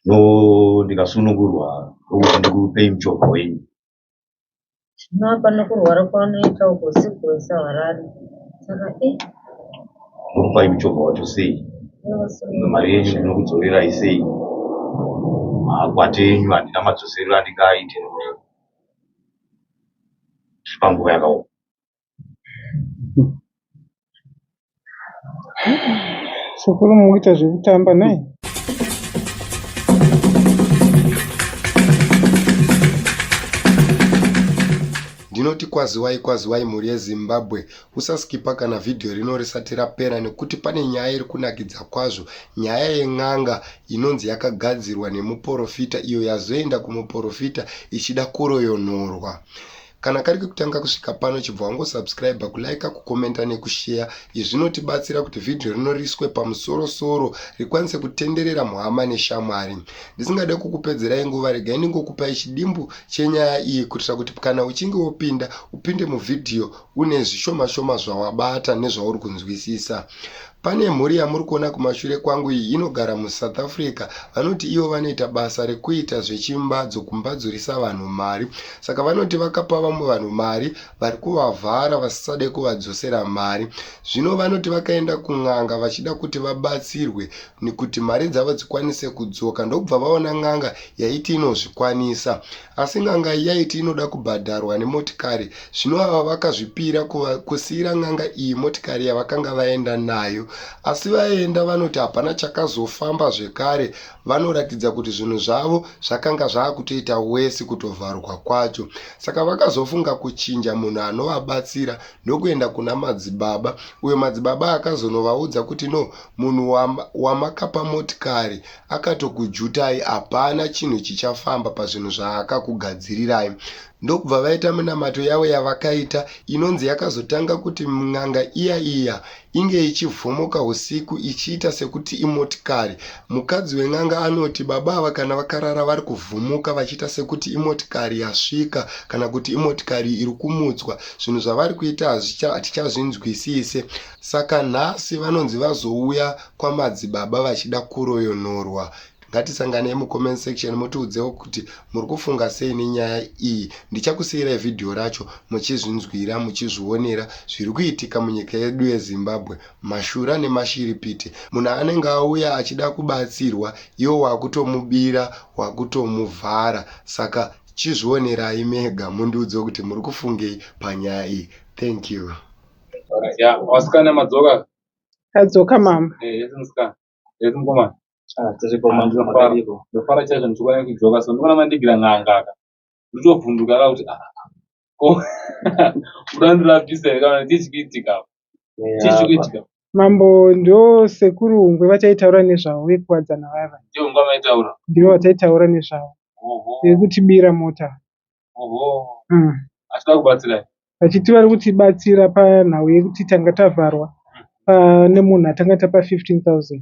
no ndikasunungurwa ndokuti ndikupei muchovha wenyu zvino apa nokurwara kwaunoita uko sikuwesa harare saka e eh. ndokupai muchovha wacho sei mari yenyu ndinokudzorerai sei makwati enyu handina madzoserero andingaaite nekuti tiri panguva yakaoma Sekuru muri kuita zvekutamba nhai? Ndinoti kwaziwai kwaziwai mhuri yeZimbabwe, usaskipa kana vhidhiyo rino risati rapera nekuti pane nyaya iri kunakidza kwazvo, nyaya yen'anga inonzi yakagadzirwa nemuporofita iyo yazoenda kumuporofita ichida kuroyonhorwa. Kana kari kekutanga kusvika pano chibva wangosubscriber, kulaika, kukomenta nekusheya. Izvi zvinotibatsira kuti vhidhiyo rino riiswe pamusoro-soro rikwanise kutenderera muhama neshamwari. Ndisingade kukupedzerai nguva, regai ndingokupai chidimbu chenyaya iyi kuitira kuti kana uchinge wopinda, upinde muvhidhiyo une zvishoma-shoma zvawabata nezvauri kunzwisisa. Pane mhuri yamuri kuona kumashure kwangu iyi inogara muSouth Africa. Vanoti ivo vanoita basa rekuita zvechimbadzo kumbadzurisa vanhu mari. Saka vanoti vakapa vamwe vanhu mari vari kuvavhara vasisade kuvadzosera mari. Zvino vanoti vakaenda kun'anga vachida kuti vabatsirwe nekuti mari dzavo dzikwanise kudzoka ndokubva vaona n'anga yaiti inozvikwanisa. Asi n'anga iyi yaiti inoda kubhadharwa nemotikari, zvino ava vakazvipira kusiyira n'anga iyi motikari yavakanga vaenda nayo. Asi vaenda vanoti hapana chakazofamba zvekare, vanoratidza kuti zvinhu zvavo zvakanga zvava kutoita wesi kutovharwa kwacho. Saka vakazofunga kuchinja munhu anovabatsira ndokuenda kuna madzibaba, uyo madzibaba akazonovaudza kuti no, munhu wamakapa motikari akatokujutai hapana chinhu chichafamba pazvinhu zvaakakugadzirirai ndokubva vaita minamato yavo yavakaita inonzi yakazotanga kuti n'anga iya iya inge ichivhomoka usiku ichiita sekuti imotikari mukadzi wen'anga anoti baba ava kana vakarara vari kuvhumuka vachiita sekuti imotikari yasvika kana kuti imotikari iri kumutswa zvinhu zvavari kuita hatichazvinzwisise saka nhasi vanonzi vazouya kwamadzibaba vachida kuroyonorwa ngatisanganei mucomment section mutiudzewo kuti muri kufunga sei nenyaya iyi ndichakusiyirai vhidhiyo racho muchizvinzwira muchizvionera zviri kuitika munyika yedu yezimbabwe mashura nemashiripiti munhu anenge auya achida kubatsirwa iwo wakutomubira wakutomuvhara saka chizvionerai mega mundiudze kuti muri kufungei panyaya iyi thank you vasikana madzoka Adzoka mama. Eh, yes musikana. Yes mukomana. Ah, tese kwa mama ndofara. Ndofara chaizvo ndichikuona kudzoka so ndikuona mandigira n'anga aka. Ndichovhunduka ka kuti ah. Ko. Kuda ndirapisa here kana tichikitika. Tichikitika. Mambo ndo sekuru ngwe vataitaura nezvavo vekuwadzana vava. Ndivo ngwa vaitaura. Ndivo vataitaura nezvavo. Vekutibira mota. mm. asi vakubatsirai vachiti vari kutibatsira panhau yekuti tanga tavharwa pane munhu atanga tapa 15 000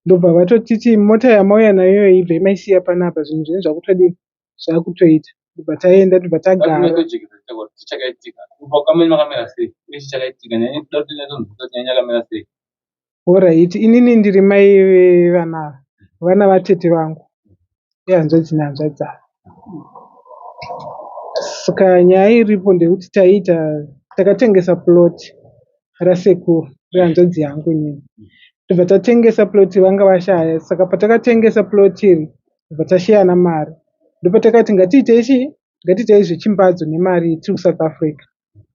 ndobva vatotiti mota yamauya nayo ibva imaisiya panapa zvinhu zvenyu zvakutodii zvakutoita ndobva taenda ndobva tagara Horaiti inini ndiri mai vevana ava. Vana vatete vangu ihanzvadzi nehanzvadzi ava. Saka nyaya iripo ndeyekuti taiita takatengesa plot rasekuru rehanzvadzi yangu inini. Tobva tatengesa plot vanga vashaya saka patakatengesa plot iri tobva tasheyana mari. Ndopatakati ngatiitei chii ngatiitei zvechimbadzo nemari tiri kuSouth Africa.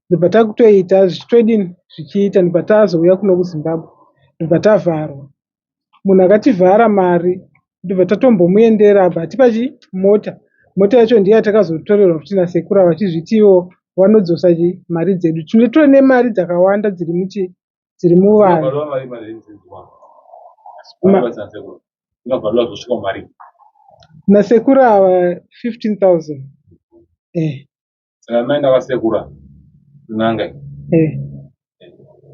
ndobva takutoita zvichitodini zvichiita ndobva tazouya kuno kuZimbabwe ndobva tavharwa. Munhu akativhara mari ndobva tatombomuendera abva atipa chi mota. Mota yacho ndiyo yatakazotorerwa futi nasekuru ava vachizviti ivo vanodzosa chi mari dzedu. Tine tove nemari dzakawanda dziri muchi dziri muvanhu. Ma- Unobvalwa zvosvika mari. nasekuru ava 15000 eh. saka mai ndavasekuru ava kun'anga iyi Eh,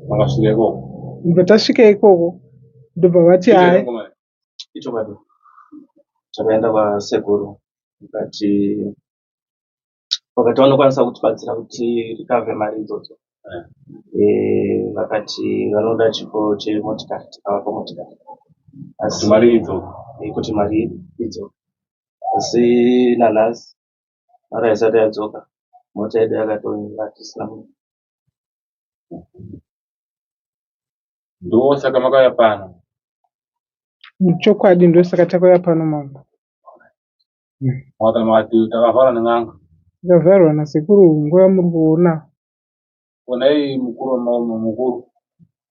vakasvika ikoko ndobva tasvika ikoko ndobva vati hayi ichokwadi takaenda kwasekuru vakati vakati vanokwanisa kutibatsira kuti rikave mari idzodzo Eh, vakati vanoda chipo chemotikari tikavapa motikari asi mari idzo eh, kuti mari idzo asi nanhasi mara haisati yadzoka mota yedu yakatonira tisina munhu ndosaka makauya pano muchokwadi ndosaka takauya pano mambo makana makati takavharwa nen'anga takavharwa nasekuru nguva muri kuona onai mukuru wamaume mukuru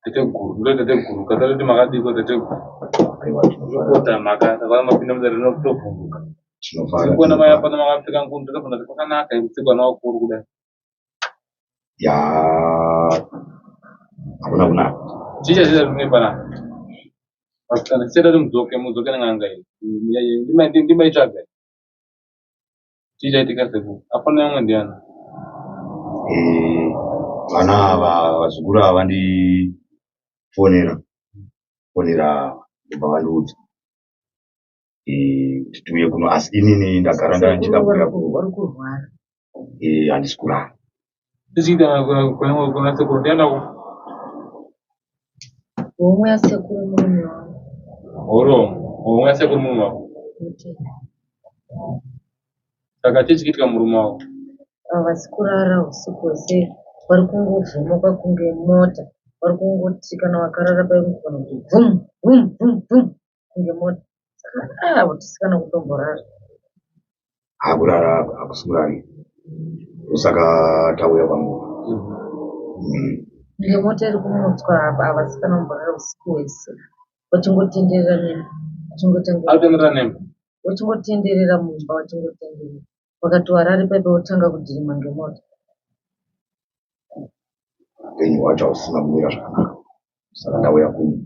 teteguru ndo teteguru katariti makadiko teteguru zvokota mhaka takava mapinda mudare rino kutovhunduka sikuona mai apana makapfeka ngundu tafana kuti kwakanaka ikutsikwana wakuru kudai ya hakuna kunaka chicha chicha zvine panapa vasikana chichada kuti mudzoke mudzoke nen'anga iyi ndimaitsvaga chichaitika seku afana yamwe ndiana eh, vana ava vazukuru ava vandifonera fonera ndobva vandiudza kuti eh, tiuye kuno asi inini ndagara ndandikakuya vari kurwara handisi kurara Ndichiita kwangu kuna sekuru ndienda ku. Homwe ya sekuru murume wangu. Horo, homwe ya sekuru murume wangu. Saka chii chikiitika murume wangu? Havasi kurara usiku hwese vari kungovhumuka kunge mota vari kungoti kana wakarara paimukona kuti vhum vhum vhum vhum kunge mota ah vatisikana kutomborara hakurara hakusikurari ndosaka tauya kwangu Mm. kunge mota iri kumutswa apa avasikana kumborara usiku hwese vachingotenderera nini vachingotenderera Alvin Ranem. vachingotenderera mumba vachingotenderera wakati warari pepe wotanga kudhirima ngemota upenyu hwacho hausina kumira zvakanaka saka ndauya kuno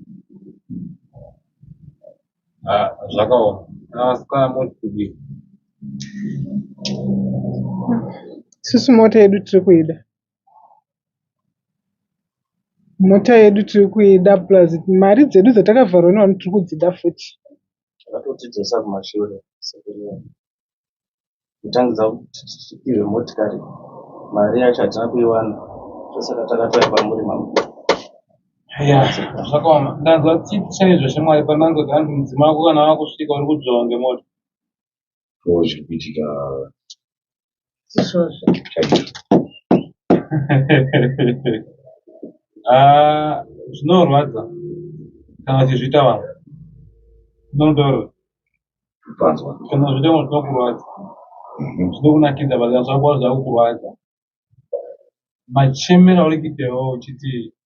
ah, zvakaoma asikana moti kudii isusu mota yedu tiri kuida mota yedu tiri kuida plus mari dzedu dzatakavharwa nevanhu tiri kudzida futi vakatotidzosa kumashure kutangidza kuti tipihwe motikari mari yacho hatina kuiwana ndosaka takatouya kwamuri mamukuru zvakaoma ndanzwa tichene zveshe mwari panango dzaanzi mudzima wako kana wakusvika uri kudzvawa ngemota zviri kuitika izvozvo ah, zvinorwadza kana uchizviita vanhu nondoro panzwa kana zviita vanhu zvinokurwadza mhm. zvinokunakidza but zvakwa zvakukurwadza machemera uri kuitewo uchiti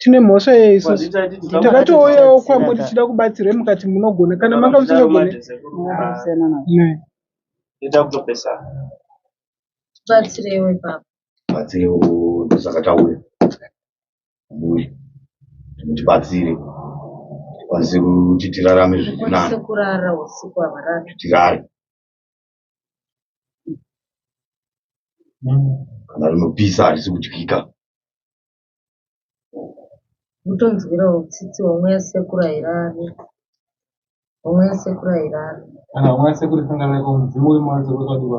tine mhosva yei isusu takatouyawo kwamuri tichida kubatsirwe mukati munogona kana manga musinogone batsirewe baba batsirewo ndosaka tauya ambuya mutibatsire tikwanise kuti tirarame zvirinani tirare kana rinopisa harisi kudyika kutonzwirawo tsitsi homwe yasekuru hairari homwe yasekuru hairari kana homwe yasekuru isingareko mudzimu uri mauri dzekuti wadiwa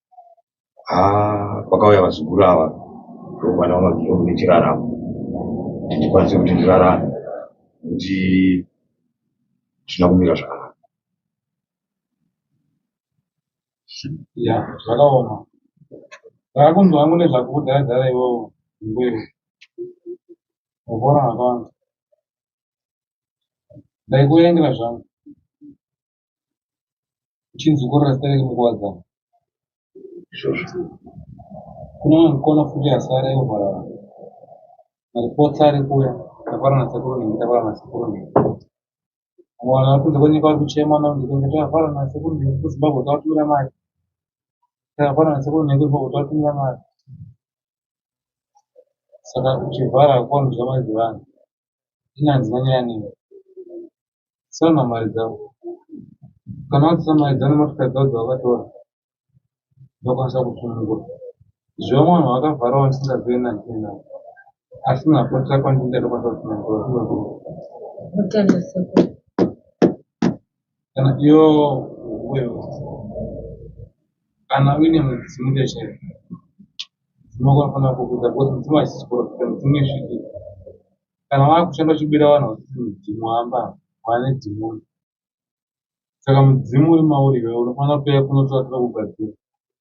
haa kwakauya vazukuru ava ndokwana vamabviro kune chiraramo kuti ndikwanise kuti ndirarame nekuti zvisina kumira zvakanaka ya zvakaoma ndakunzwa hangu nezvakudhadhara iwowo mbeu mukona vakawanda ndaikuengera zvangu uchinzi korora zita rake munguva dzavo izvozvo kuna mukona futi asi ari aihwara vanhu maripotsi ari kuya takwara nasekuru nhingi takwara nasekuru nhingi mwana akunze kwenyika ari kuchema naunzikenge takwara nasekuru nhingi kuzimbabwe tawatumira mari takwara nasekuru nhingi kuzimbabwe tawatumira mari saka uchivhara kuwanhu zvamai dzevanhu zvinanzi vanyaya nini sona mari dzavo kana wadzisa mari dzavo nemotokari dzavo dzavakatora ndokwanisa kusunungura zvevamwe vanhu vakavharawo ndisingazive nandiina asi napotira kwandinda ndokwanisa kusunungura mutende sekuru kana iyo uyo kana uine mudzimu ndechaiyo unofanira kukuza because mudzimu haisisi kurapika mudzimu isviki kana wakushanda uchibira vanhu vachiti mudzimu amba wane dzimu saka mudzimu uri mauri iwe unofanira kuuya kunotoatira kugadzira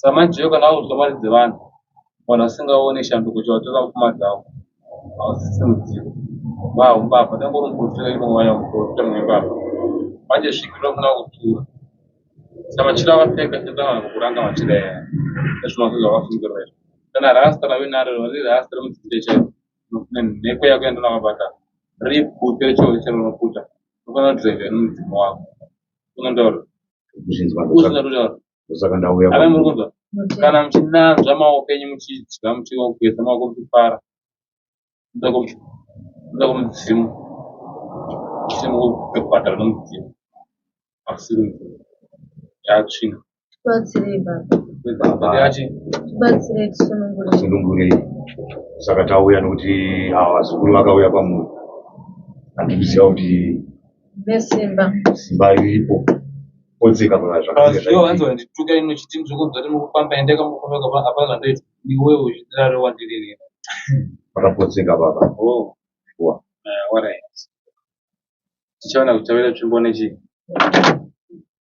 Samanjeyo kana audzwa mari dzevanhu vanhu vasingaone shanduko chawatora mupfuma dzavo hausisi mudziyo vaa umbavha tangori muprofita imowaya muprofita mwembavha manje sviki rinofana kutura samachira vapfeka chinotanana kuranga machira yaya ezvinokuza vafungirwa izvo kana rasta rave naro riri rasta remudzinde chaivo nhekwe yako yandonavabata ripute rechiori chero unoputa unofanira kudrive nomudzimu wako unondaura kuzvinzwa ndosaka ndauya kana muchinanzva maoko enyu muchidya muchigeza maoko muchifara nda kumudzimu chimukubhadhara nomudzimu asiri mudzimu yatsvina tibatsirei baba tibatsirei tisunungurei saka tauya nokuti ava vazukuru vakauya kwamuri handikuziva kuti nesimba simba iripo odzika muna zvakanzwanditukka ino chiti ndirikunzwa ti mukufamba ende kamufamba kapa apa zvandoita iwe uchidaro wandiririra vakapotseka baba oh. shuwa eh, tichaona kuti tavira tsvimbo nechii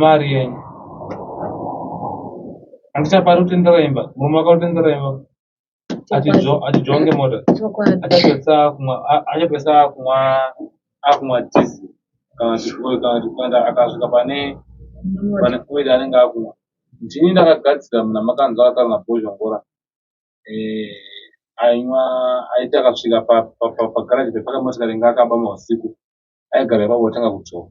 mari yenyu andichapari kutendera imba murume akautendera imba atidzonge mota achapesa kumwa achapesa kumwa akumwa tizi kana zvifuyo kana zvipanda akasvika pane pane oida anenge akumwa ndini ndakagadzira mna makanzwa akataura nabhozha ngora eh, ainywa aiti akasvika pagaraji pepaka motikari inga akabama usiku aigara ipapo otanga kudzora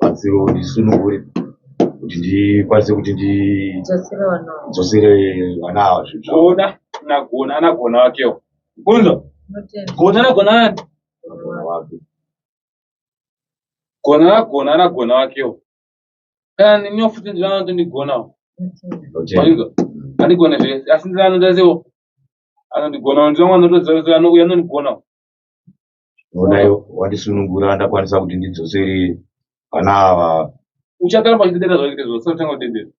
batsiro ndisunungure kuti ndikwanise kuti ndidzosere vana ava zvinhuona nagona anagona wakewo kunzo gona anagona wake gona anagona anagona wakewo kana niniwo futi ndinanoto ndigonawo andigone zvese asi ndinodaziwo anondigonawo ndinowanotozauya anondigonawo Onai wandisunungura ndakwanisa kuti ndidzosere vana ava. Uchagara pachidedera zvakite zvose utanga kudedera.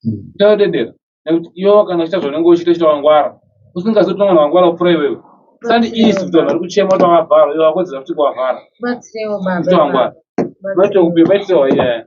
Hmm. Utanga kudedera. Nekuti iwo kana uchita zvaunenge uchita uchita wangwara. Usingazivi kuti mwana wangwara kupfuura iwewe. Sandi isi kuti vanhu vari kuchema kuti wavhara iwe wakodzera kuti kuwavhara. Batsirewo baba. Kuti wangwara. Batsirewo baba. Batsirewo baba.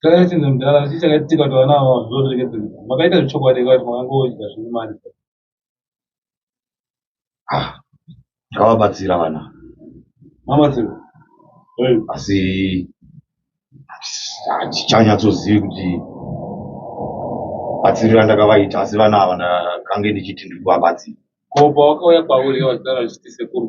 Kana chinzi mudhara asi chakaitika kuti vana ava zvorekedza makaita zvechokwadi kuti makangoudya zvine mari ah, ngavabatsira vana mabatsira asi hatichanyatsozivi kuti batsirira ndakavaita asi vana ava ndakange ndichiti ndiri kuvabatsira ko pawakauya kwauri wazara zvichiti sekuru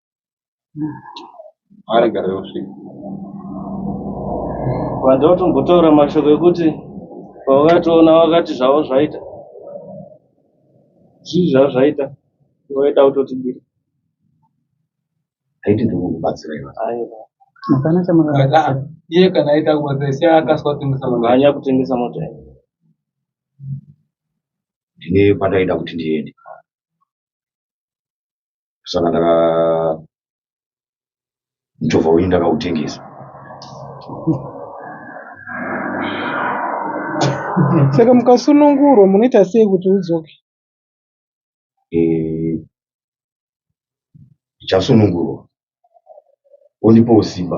arega reusvika vada kutombotaura mashoko ekuti pavakatoona vakati zvavo zvaita zvii zvavo zvaita vaita kutotibira haiti ndikukubatsira iwe aiwa hapana chamakabatsira iye kana aita kubatsira sia akaswa kutengesa mota hanya kutengesa mota iyi ndine kwandaida kuti ndiende saka ndaka muchovha wenyu ndakautengesa saka mukasunungurwa munoita sei kuti udzoke Eh, ndichasunungurwa ondipawo simba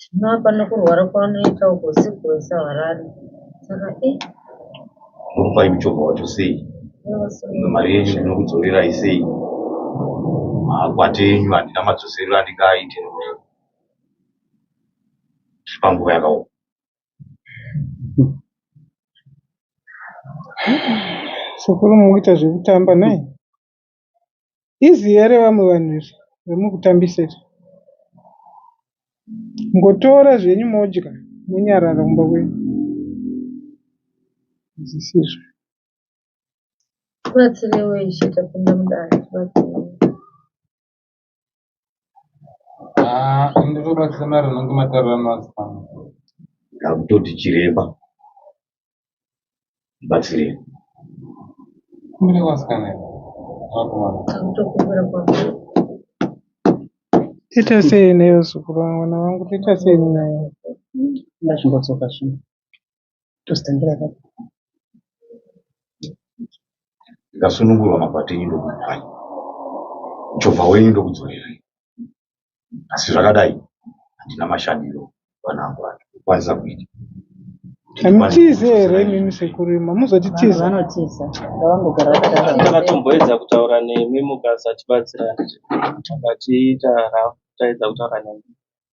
Zvino apa nekurwara kwavanoita uko siku wese havarari saka e murufai muchobva wacho sei mari yenyu ndinokudzorerai sei makwati enyu handina madzoserero andingaaite nekuti tiri panguva yakaoma sekuru mukuita zvekutamba naye Easy here vamwe vanhu izvi zvemukutambisa izvi. Mungotora zvenyu modya monyarara kumba kwenyu. Hazvisizvo. Tibatsirewo Ishe tapinda mudare tibatsirewo. Ah, ende tobatsira mari unenge matarira mazipano. ndakutoti chiremba ndibatsirei Kumire kwasikana iwe. Vakomana. Akutokumbira kwako. Toita sei newe zukuru wangu vana vangu toita sei naye? Ndazvingotsoka zvino. Tozotambira papi? Ndikasunungurwa mabhati enyu ndokupai muchovha wenyu ndokudzorerai, asi zvakadai handina mashandiro panangu acho kukwanisa kuita Hamutize here imimi sekuru imi hamuzotitiza. Vanotiza ngavangogara vakadaro. Takatomboedza kutaura nemi mukasachibatsirana but ita rafu taedza kutaura nemi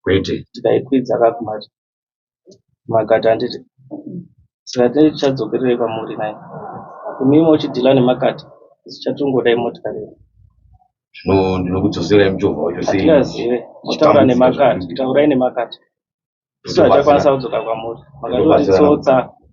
kwete tikaikwidza kakumati makati handiti saka tinenge tichadzokererei kwamuri nai imimi uchidhila nemakati isu chatongoda imotikari yedu zvino ndinokudzoserai muchovha wacho sei hatingazive motaura nemakati taurai nemakati isu hatichakwanisa kudzoka kwamuri makati utitsotsa